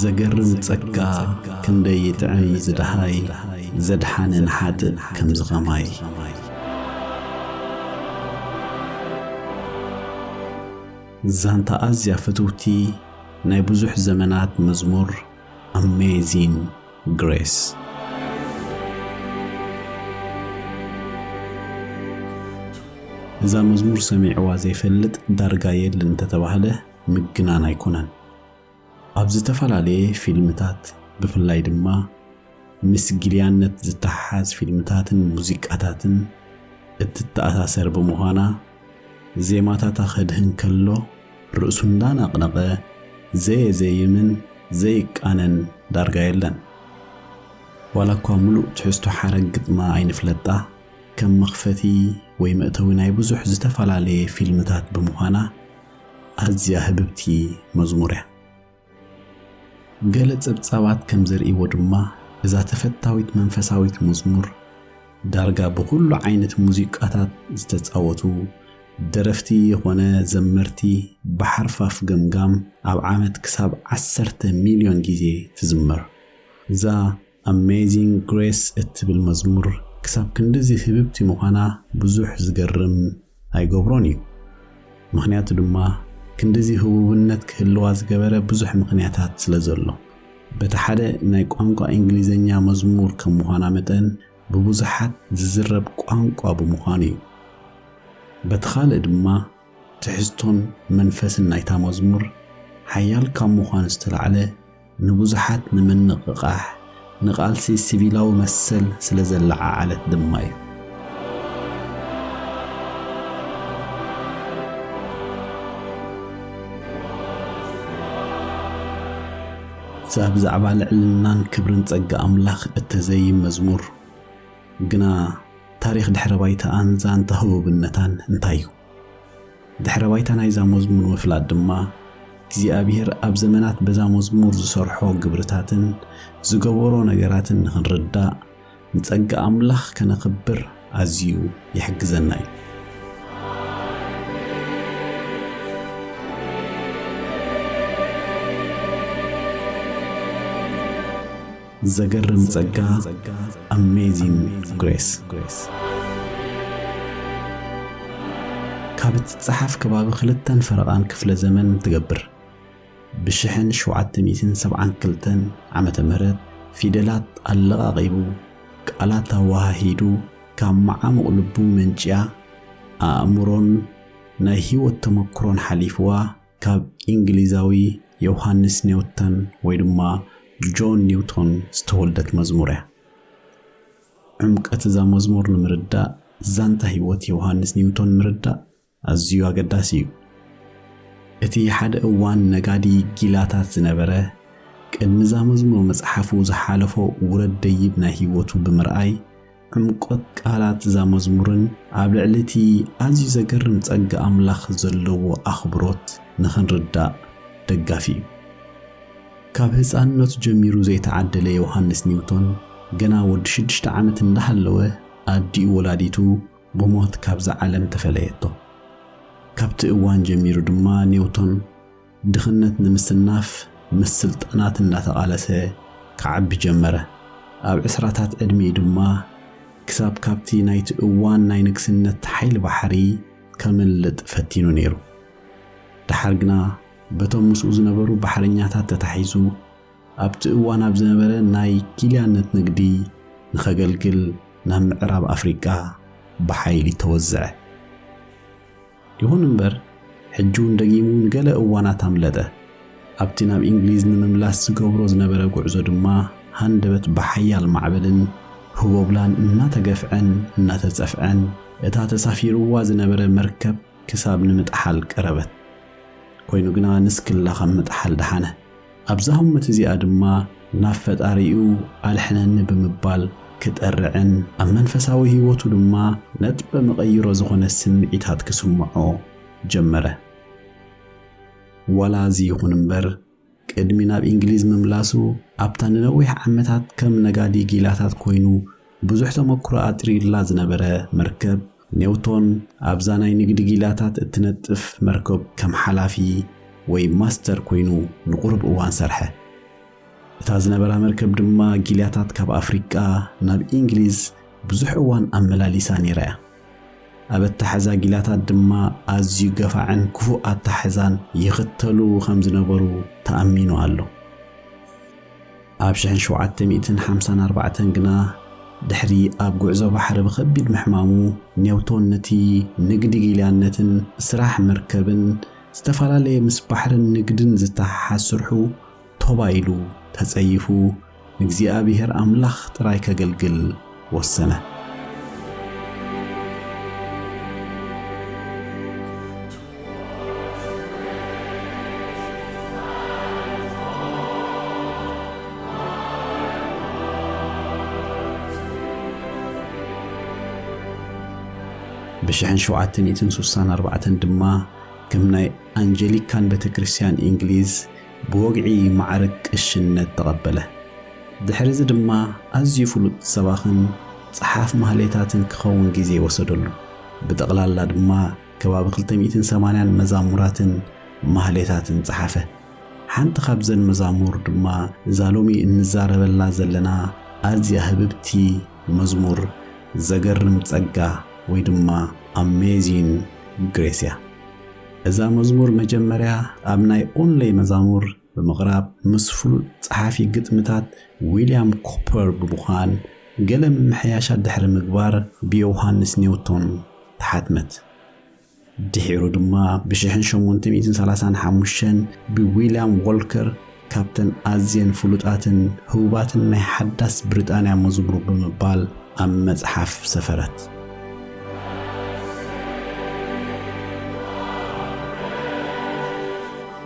ዘገርም ጸጋ ክንደይ ይጥዕም እዚ ደሃይ ዘድሓነ ንሓጥእ ከምዚ ከማይ። ዛንታ ኣዝያ ፍትውቲ ናይ ብዙሕ ዘመናት መዝሙር Amazing Grace። እዛ መዝሙር ሰሚዕዋ ዘይፈልጥ ዳርጋ የልን እንተተባህለ ምግናን ኣይኮነን። ኣብ ዝተፈላለየ ፊልምታት ብፍላይ ድማ ምስ ጊልያነት ዝተሓሓዝ ፊልምታትን ሙዚቃታትን እትተኣሳሰር ብምዃና ዜማታታ ከድህን ከሎ ርእሱ እንዳነቕነቐ ዘየዘይምን ዘይቃነን ዳርጋ የለን። ዋላኳ ምሉእ ትሕዝቶ ሓረግ ግጥማ ኣይንፍለጣ ከም መኽፈቲ ወይ መእተዊ ናይ ብዙሕ ዝተፈላለየ ፊልምታት ብምዃና ኣዝያ ህብብቲ መዝሙር እያ። ገለ ጸብጻባት ከም ዘርእይዎ ድማ እዛ ተፈታዊት መንፈሳዊት መዝሙር ዳርጋ ብኹሉ ዓይነት ሙዚቃታት ዝተጻወቱ ደረፍቲ የኾነ ዘመርቲ ብሓርፋፍ ገምጋም ኣብ ዓመት ክሳብ ዓሰርተ ሚልዮን ግዜ ትዝመር። እዛ ኣሜዚንግ ግሬስ እትብል መዝሙር ክሳብ ክንድዚ ህብብቲ ምዃና ብዙሕ ዝገርም ኣይገብሮን እዩ። ምኽንያቱ ድማ ክንድዚ ህቡብነት ክህልዋ ዝገበረ ብዙሕ ምኽንያታት ስለ ዘሎ። በቲ ሓደ ናይ ቋንቋ እንግሊዝኛ መዝሙር ከም ምዃና መጠን ብብዙሓት ዝዝረብ ቋንቋ ብምዃኑ እዩ። በቲ ካልእ ድማ፣ ትሕዝቶን መንፈስን ናይታ መዝሙር ሓያል ካብ ምዃኑ ዝተላዕለ ንብዙሓት ንምንቕቓሕ፣ ንቓልሲ ሲቪላዊ መሰል ስለ ዘለዓዓለት ድማ እዩ። እዛ ብዛዕባ ልዕልናን ክብርን ጸጋ ኣምላኽ እተዘይም መዝሙር፣ ግና ታሪኽ ድሕረ ባይታኣን ዛንታ ህቡብነታን እንታይ እዩ? ድሕረ ባይታ ናይዛ መዝሙር ምፍላጥ ድማ እግዚኣብሄር ኣብ ዘመናት በዛ መዝሙር ዝሰርሖ ግብርታትን ዝገበሮ ነገራትን ንኽንርዳእ ንጸጋ ኣምላኽ ከነኽብር ኣዝዩ ይሕግዘና እዩ። ዘገርም ጸጋ Amazing Grace ካብ እትጸሓፍ ከባቢ ክልተን ፈረቓን ክፍለ ዘመን ትገብር። ብሽሕን ሸውዓተ ሚእትን ሰብዓን ክልተን ዓመተ ምህረት ፊደላት ኣለቓቒቡ፣ ቃላት ኣወሃሂዱ፣ ካብ መዓሙቕ ልቡ መንጭያ፣ ኣእምሮን ናይ ህይወት ተመክሮን ሓሊፍዋ፣ ካብ ኢንግሊዛዊ ዮውሃንስ ኔውተን ወይ ድማ ጆን ኒውቶን ዝተወልደት መዝሙር እያ። ዕምቀት እዛ መዝሙር ንምርዳእ ዛንታ ህይወት ዮውሃንስ ኒውቶን ምርዳእ ኣዝዩ ኣገዳሲ እዩ። እቲ ሓደ እዋን ነጋዲ ጊላታት ዝነበረ ቅድሚ እዛ መዝሙር ምጽሓፉ ዝሓለፎ ውረድ ደይብ ናይ ህይወቱ ብምርኣይ ዕምቆት ቃላት እዛ መዝሙርን ኣብ ልዕሊ እቲ ኣዝዩ ዘገርም ጸጋ ኣምላኽ ዘለዎ ኣኽብሮት ንኽንርዳእ ደጋፊ እዩ። ካብ ህጻንነቱ ጀሚሩ ዘይተዓደለ ዮሃንስ ኒውቶን ገና ወዲ ሽዱሽተ ዓመት እንዳሃለወ ኣዲኡ ወላዲቱ ብሞት ካብዛ ዓለም ተፈለየቶ። ካብቲ እዋን ጀሚሩ ድማ ኒውቶን ድኽነት ንምስናፍ ምስ ስልጣናት እናተቓለሰ ክዓቢ ጀመረ። ኣብ ዕስራታት ዕድሚኡ ድማ ክሳብ ካብቲ ናይቲ እዋን ናይ ንግስነት ሓይሊ ባሕሪ ከምልጥ ፈቲኑ ነይሩ። ደሓር ግና በቶም ምስኡ ዝነበሩ ባሕረኛታት ተታሒዙ ኣብቲ እዋን ኣብ ዝነበረ ናይ ጊልያነት ንግዲ ንኸገልግል ናብ ምዕራብ ኣፍሪቃ ብሓይሊ ተወዘዐ። ይኹን እምበር፣ ሕጂ'ውን ደጊሙ ንገለ እዋናት ኣምለጠ። ኣብቲ ናብ ኢንግሊዝ ንምምላስ ዝገብሮ ዝነበረ ጉዕዞ ድማ ሃንደበት ብሓያል ማዕበልን ህቦብላን እናተገፍዐን እናተጸፍዐን እታ ተሳፊሩዋ ዝነበረ መርከብ ክሳብ ንምጥሓል ቀረበት። ኮይኑ ግና ንስክላ ካብ ምጥሓል ደሓነ። ኣብዛ ህሞት እዚኣ ድማ ናብ ፈጣሪኡ ኣድሕነኒ ብምባል ክጠርዕን ኣብ መንፈሳዊ ህይወቱ ድማ ነጥበ መቐይሮ ዝኾነ ስምዒታት ክስምዖ ጀመረ። ዋላ እዚ ይኹን እምበር ቅድሚ ናብ ኢንግሊዝ ምምላሱ ኣብታ ንነዊሕ ዓመታት ከም ነጋዲ ጊላታት ኮይኑ ብዙሕ ተመኩሮ ኣጥሪዩላ ዝነበረ መርከብ ኔውቶን ኣብዛ ናይ ንግዲ ጊላታት እትነጥፍ መርከብ ከም ሓላፊ ወይ ማስተር ኰይኑ ንቝሩብ እዋን ሰርሐ። እታ ዝነበራ መርከብ ድማ ጊላታት ካብ ኣፍሪቃ ናብ ኢንግሊዝ ብዙሕ እዋን ኣመላሊሳ ነይራ እያ። ኣብ ኣታሕዛ ጊላታት ድማ ኣዝዩ ገፋዕን ክፉእ ኣታሕዛን ይኽተሉ ኸም ዝነበሩ ተኣሚኑ ኣሎ። ኣብ ሽሕን ሸውዓተ ሚእትን ሓምሳን ኣርባዕተን ግና ድሕሪ ኣብ ጉዕዞ ባሕሪ ብኸቢድ ምሕማሙ ኔውቶን ነቲ ንግዲ ጊልያነትን ስራሕ መርከብን ዝተፈላለየ ምስ ባሕርን ንግድን ዝተሓሓዝ ስርሑ ቶባ ኢሉ ተጸይፉ ንእግዚኣብሄር ኣምላኽ ጥራይ ከገልግል ወሰነ። ብሽሕን ሸውዓተ ሚእትን ሱሳን ኣርባዕተን ድማ ከም ናይ ኣንጀሊካን ቤተክርስትያን እንግሊዝ፣ ብወግዒ መዓርግ ቅሽነት ተቐበለ። ድሕርዚ ድማ ኣዝዩ ፍሉጥ ሰባኽን ጸሓፍ ማህሌታትን ክኸውን ግዜ ወሰደሉ። ብጠቕላላ ድማ ከባቢ ክልተ ሚእትን ሰማንያን መዛሙራትን ማህሌታትን ጸሓፈ። ሓንቲ ካብዘን መዛሙር ድማ እዛ ሎሚ እንዛረበላ ዘለና ኣዝያ ህብብቲ መዝሙር ዘገርም ጸጋ ወይ ድማ Amazing Grace እያ። እዛ መዝሙር መጀመርያ ኣብ ናይ ኦንለይ መዛሙር ብምቕራብ ምስ ፍሉጥ ጸሓፊ ግጥምታት ዊልያም ኮፐር ብምዃን ገለ ምምሕያሻት ድሕሪ ምግባር ብዮውሃንስ ኒውቶን ተሓትመት። ድሒሩ ድማ ብሽሕን ሸሞንተ ሚእትን ሰላሳን ሓሙሽተን ብዊልያም ዎልከር ካብተን ኣዝየን ፍሉጣትን ህቡባትን ናይ ሓዳስ ብሪጣንያ መዝሙር ብምባል ኣብ መጽሓፍ ሰፈረት።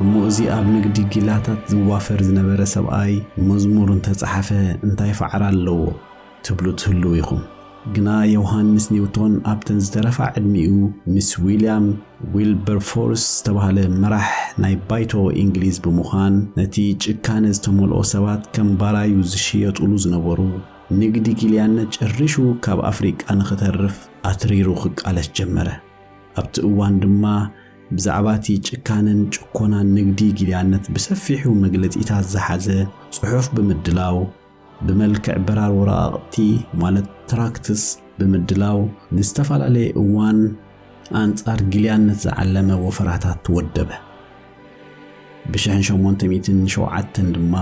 እሞ እዚ ኣብ ንግዲ ጊላታት ዝዋፈር ዝነበረ ሰብኣይ መዝሙር እንተጸሓፈ እንታይ ፋዕራ ኣለዎ? ትብሉ ትህልዉ ኢኹም። ግና ዮውሃንስ ኒውቶን ኣብተን ዝተረፋ ዕድሚኡ ምስ ዊልያም ዊልበርፎርስ ዝተባህለ መራሕ ናይ ባይቶ ኢንግሊዝ ብምዃን ነቲ ጭካነ ዝተመልኦ ሰባት ከም ባራዩ ዝሽየጡሉ ዝነበሩ ንግዲ ጊልያነት ጨሪሹ ካብ ኣፍሪቃ ንኽተርፍ ኣትሪሩ ክቃለስ ጀመረ። ኣብቲ እዋን ድማ ብዛዕባቲ ጭካነን ጭኮናን ንግዲ ጊልያነት ብሰፊሑ መግለጺታት ዝሓዘ ጽሑፍ ብምድላው ብመልክዕ በራር ወረቓቕቲ ማለት ትራክትስ ብምድላው ንዝተፈላለየ እዋን ኣንጻር ጊልያነት ዝዓለመ ወፈራታት ወደበ። ብሽሕን ሸሞንተ ሚእትን ሸውዓተን ድማ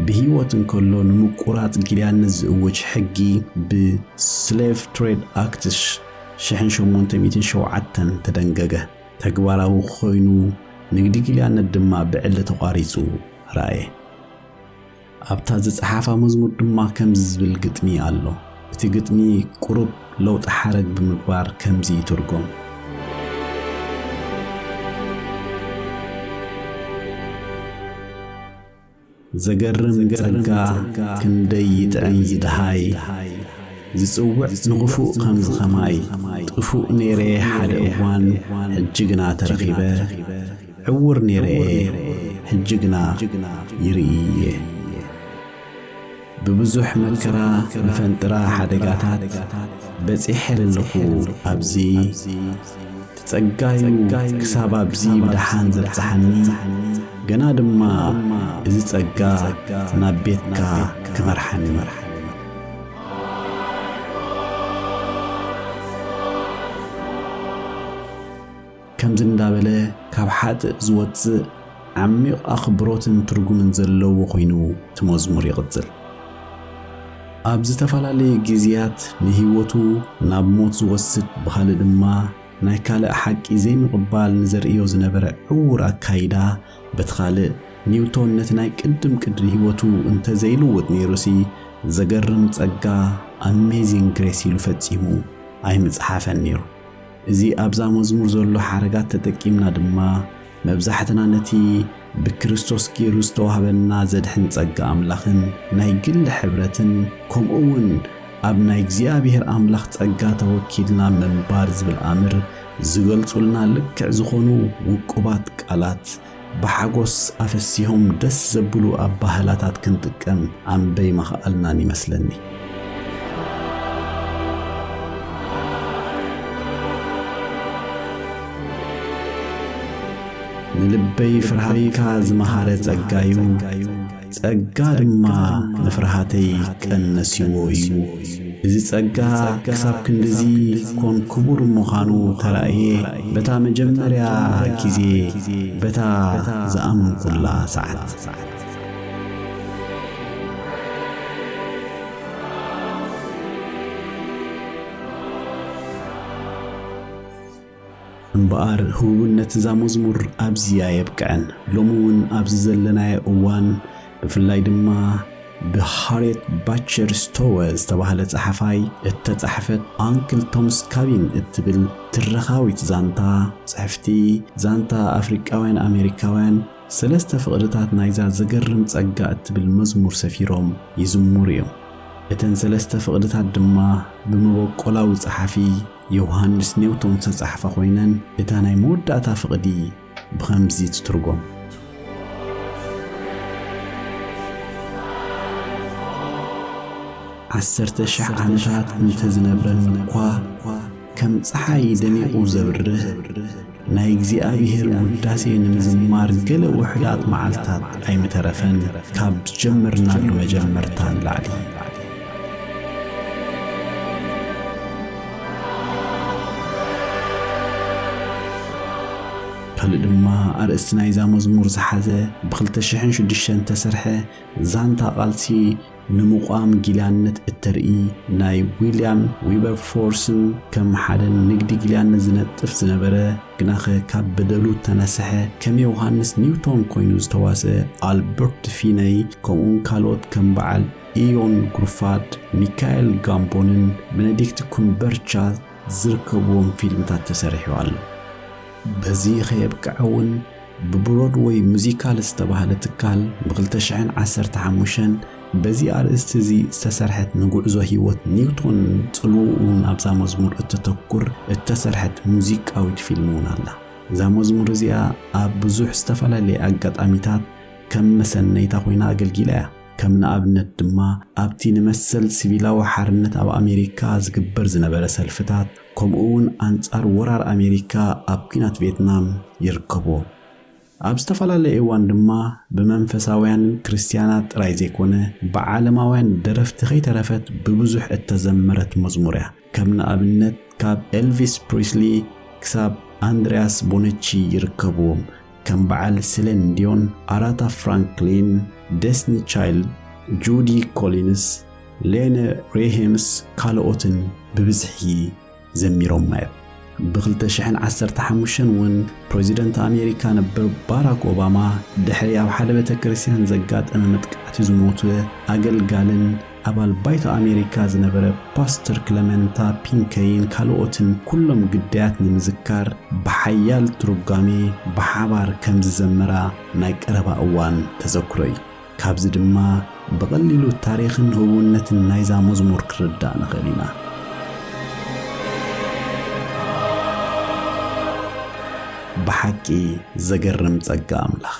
ብህይወት እንከሎ ንምቁራጽ ጊልያነት ዝእውጅ ሕጊ ብ Slave Trade Act ሽሕን ሸሞንተ ሚእትን ሸውዓተን ተደንገገ። ተግባራዊ ኮይኑ ንግዲ ጊልያነት ድማ ብዕሊ ተቋሪጹ ረኣየ። ኣብታ ዝጸሓፋ መዝሙር ድማ ከምዚ ዝብል ግጥሚ ኣሎ። እቲ ግጥሚ ቁሩብ ለውጢ ሓረግ ብምግባር ከምዚ ይትርጎም። ዘገርም ጸጋ ክንደይ ይጥዕም ዝደሃይ ዝጽውዕ ንኽፉእ ከምዚ ኸማይ ጥፉእ ነይረ ሓደ እዋን ሕጂ ግና ተረኺበ ዕዉር ኔረ'የ ሕጂ ግና ይርኢ እየ። ብብዙሕ መከራ መፈንጥራ ሓደጋታት በጺሐ ለለኹ ኣብዚ ትጸጋ'ዩ ክሳብ ኣብዚ ብደሓን ዘብጽሓኒ ገና ድማ እዚ ጸጋ ናብ ቤትካ ክመርሓኒ። ከምዚ እንዳበለ ካብ ሓጥእ ዝወጽእ ዓሚቕ ኣኽብሮትን ትርጉምን ዘለዎ ኮይኑ እቲ መዝሙር ይቕጽል። ኣብ ዝተፈላለየ ግዜያት ንህይወቱ ናብ ሞት ዝወስድ ብኻልእ ድማ ናይ ካልእ ሓቂ ዘይምቕባል ንዘርእዮ ዝነበረ ዕዉር ኣካይዳ በቲ ካልእ ኒውቶን ነቲ ናይ ቅድም ቅድሪ ህይወቱ እንተዘይልውጥ ነይሩሲ ዘገርም ጸጋ Amazing Grace ኢሉ ፈጺሙ ኣይምጸሓፈን ነይሩ። እዚ ኣብዛ መዝሙር ዘሎ ሓረጋት ተጠቂምና ድማ መብዛሕትና ነቲ ብክርስቶስ ገይሩ ዝተዋህበና ዘድሕን ጸጋ ኣምላኽን ናይ ግሊ ሕብረትን ከምኡ ውን ኣብ ናይ እግዚኣብሔር ኣምላኽ ጸጋ ተወኪልና ምንባር ዝብል ኣምር ዝገልጹልና ልክዕ ዝኾኑ ውቁባት ቃላት ብሓጎስ ኣፈሲሆም ደስ ዘብሉ ኣባህላታት ክንጥቀም ኣምበይ መኸኣልናን ይመስለኒ። ንልበይ ፍርሃትካ ዝመሃረ ጸጋዩ፣ ጸጋ ድማ ንፍርሃተይ ቀነስዎ እዩ። እዚ ጸጋ ክሳብ ክንድዚ ኮን ክቡር ምዃኑ ተራእየ በታ መጀመርያ ግዜ በታ ዝኣመንኩላ ሰዓት። እምበኣር ህቡብነት እዛ መዝሙር ኣብዚ ኣየብቅዐን። ሎሚ እውን ኣብዚ ዘለናዮ እዋን ብፍላይ ድማ ብሃርየት ባቸር ስቶወ ዝተባህለ ጸሓፋይ እተጻሕፈት ኣንክል ቶምስ ካቢን እትብል ትረኻዊት ዛንታ ጽሕፍቲ ዛንታ ኣፍሪቃውያን ኣሜሪካውያን ሰለስተ ፍቕድታት ናይዛ ዘገርም ጸጋ እትብል መዝሙር ሰፊሮም ይዝሙሩ እዮም። እተን ሰለስተ ፍቕድታት ድማ ብመበቆላዊ ጸሓፊ ዮውሃንስ ኔውቶን ዝተጻሕፋ ኮይነን እታ ናይ መወዳእታ ፍቕዲ ብኸምዚ ትትርጎም። ዓሰርተ ሽሕ ዓመታት እንተ ዝነብረኒ እኳ ከም ጸሓይ ደሚቑ ዘብርህ፣ ናይ እግዚኣብሔር ውዳሴ ንምዝማር ገለ ውሕዳት መዓልትታት ኣይምተረፈን ካብ ዝጀመርናሉ መጀመርታ ንላዕሊ ካልእ ድማ ኣርእስቲ ናይዛ መዝሙር ዝሓዘ ብ2006 ተሰርሐ ዛንታ ቓልሲ ንምቛም ጊላነት እተርኢ ናይ ዊልያም ዊበርፎርስን ከም ሓደ ንግዲ ጊላነት ዝነጥፍ ዝነበረ ግናኸ ካብ በደሉ እተነሰሐ ከም ዮሃንስ ኒውቶን ኮይኑ ዝተዋስአ ኣልበርት ፊነይ ከምኡውን ካልኦት ከም በዓል ኢዮን ጉርፋድ ሚካኤል ጋምቦንን በነዲክት ኩምበርቻ ዝርከብዎም ፊልምታት ተሰሪሑ ኣሎ። በዚ ከየብቅዐ እውን ብብሮድወይ ሙዚካል ዝተባህለ ትካል ብ ክልተ ሽሕን ዓሰርተ ሓሙሽተን በዚ ኣርእስቲ እዚ ዝተሰርሐት ንጉዕዞ ህይወት ኒውቶንን ጽልውኡን ኣብዛ መዝሙር እተተኩር እተሰርሐት ሙዚቃዊት ፊልም እውን ኣላ። እዛ መዝሙር እዚኣ ኣብ ብዙሕ ዝተፈላለየ ኣጋጣሚታት ከም መሰነይታ ኮይና ኣገልጊላ እያ። ከም ንኣብነት ድማ ኣብቲ ንመሰል ሲቪላዊ ሓርነት ኣብ ኣሜሪካ ዝግበር ዝነበረ ሰልፍታት፣ ከምኡ እውን ኣንፃር ወራር ኣሜሪካ ኣብ ኲናት ቬትናም ይርከቡዎም። ኣብ ዝተፈላለየ እዋን ድማ ብመንፈሳውያንን ክርስትያናት ጥራይ ዘይኮነ ብዓለማውያን ደረፍቲ ከይተረፈት ብብዙሕ እተዘመረት መዝሙር እያ። ከም ንኣብነት ካብ ኤልቪስ ፕሪስሊ ክሳብ ኣንድርያስ ቦነቺ ይርከቡዎም። ከም በዓል ስሌን ዲዮን፣ ኣራታ ፍራንክሊን፣ ደስኒ ቻይልድ፣ ጁዲ ኮሊንስ፣ ሌነ ሬሄምስ ካልኦትን ብብዝሒ ዘሚሮማ እዮም። ብ ክልተ ሽሕን ዓሰርተ ሓሙሽተን እውን ፕረዚደንት ኣሜሪካ ነበር ባራክ ኦባማ ድሕሪ ኣብ ሓደ ቤተክርስትያን ዘጋጠመ መጥቃዕቲ ዝሞተ ኣገልጋልን ኣባል ባይቶ ኣሜሪካ ዝነበረ ፓስተር ክለመንታ ፒንከይን ካልኦትን ኩሎም ግዳያት ንምዝካር ብሓያል ትርጓሜ ብሓባር ከም ዝዘመራ ናይ ቀረባ እዋን ተዘክሮ እዩ። ካብዚ ድማ ብቐሊሉ ታሪኽን ህቡብነትን ናይዛ መዝሙር ክንርዳእ ንኽእል ኢና። ብሓቂ ዘገርም ጸጋ ኣምላኽ!